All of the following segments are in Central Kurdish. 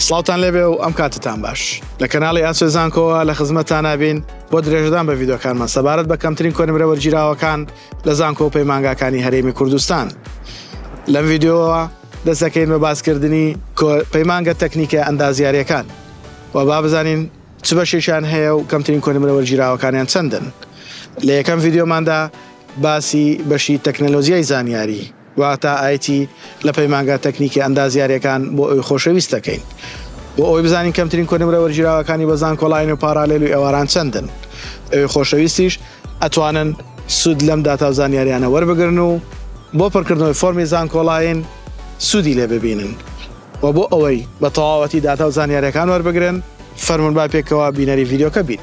سڵاوتان لێبێ و ئەم کاتتان باش لە کەناڵی ئاسێ زانکۆوە لە خزمەتانابین بۆ درێژدان بە یددیوکانمان سەبارەت بە کەمترین کۆنمرە وەرگیراوەکان لە زانکۆ و پەیمانگاکانی هەرێمی کوردستان لەم یددیوەوە دەستەکەین بە باسکردنی پەیمانگە تەکنیکە ئەندازیارەکان و با بزانین چ بەشێکیان هەیە و کەمترین کۆنمرە وەرگیراوەکانیان چەندن لە یەکەم یددیوماندا باسی بەشی تەکنەلۆزیای زانیاری واتە IT لە پەیمانگا تەکنیکی ئەندازیاریەکان بۆ ئەوی خۆشەویست دەکەین بۆ ئەوەی بزانین کەمترین کۆنمرە وەرگیراوەکانی بە زانکۆلاین و پارالێل و ئێواران چەندن ئەوی خۆشەویستیش ئەتوانن سود لەم داتا و زانیاریانە وەربگرن و بۆ پڕکردنەوەی فۆرمی زانکۆلاین سودی لێ ببینن وە بۆ ئەوەی بە تەواوەتی داتا و زانیاریەکان وەربگرن فەرمون با پێکەوە بینەری ڤیدیۆکە بین.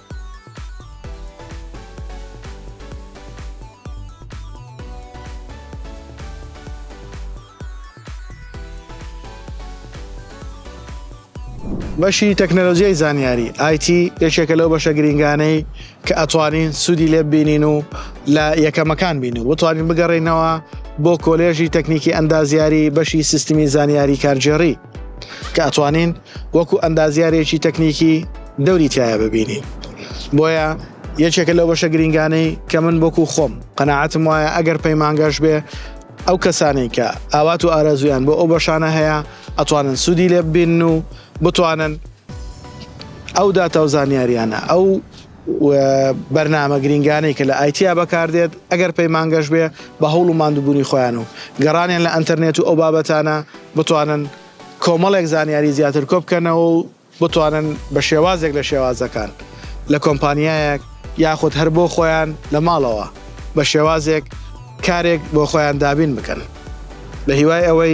بەشی تەکنەلۆژیای زانیاری ئایتی یەکێکە لەو بەشە گرنگانەی کە ئەتوانین سوودی لێ بینین و لە یەکەمەکان بین و بتوانین بگەڕینەوە بۆ کۆلێژی تەکنیکی ئەندازیاری بەشی سیستمی زانیاری کارگێڕی کە ئەتوانین وەکو ئەندازیارێکی تەکنیکی دەوری تایە ببینین بۆیە یەکێکە لەو بەشە گرنگانەی کە من بۆکو خۆم قەنەعاتم وایە ئەگەر پەیمانگەش بێ ئەو کەسانەی کە ئاوات و ئارەزویان بۆ ئەو بەشانە هەیە ئەتوانن سوودی لێ ببین و بتوانن ئەو داتا و زانیاریانە ئەو و بەرنامە گرینگانەی کە لە ئایتیا بەکاردێت ئەگەر پەیمانگەش بێ بە هەوڵ و ماندوبونی خۆیان و گەڕانیان لە ئەنتەرنێت و ئەو بابەتانە بتوانن کۆمەڵێک زانیاری زیاتر کۆبکەنەوە و بتوانن بە شێوازێک لە شێوازەکان لە کۆمپانیایەک یاخود هەر بۆ خۆیان لە ماڵەوە بە شێوازێک کارێک بۆ خۆیان دابین بکەن بە هیوای ئەوەی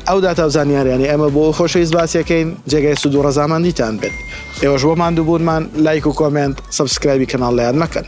ئەو داتا و زانیاریانەی ئێمە بۆ ئەو خۆشەویست باسیەکەین جێگای سودو ڕەزامەندیتان بێت ئێوەش بۆ ماندوبونمان لایک و کۆمێنت سەبسکرایبی کەناڵ لەیاد مەکەن.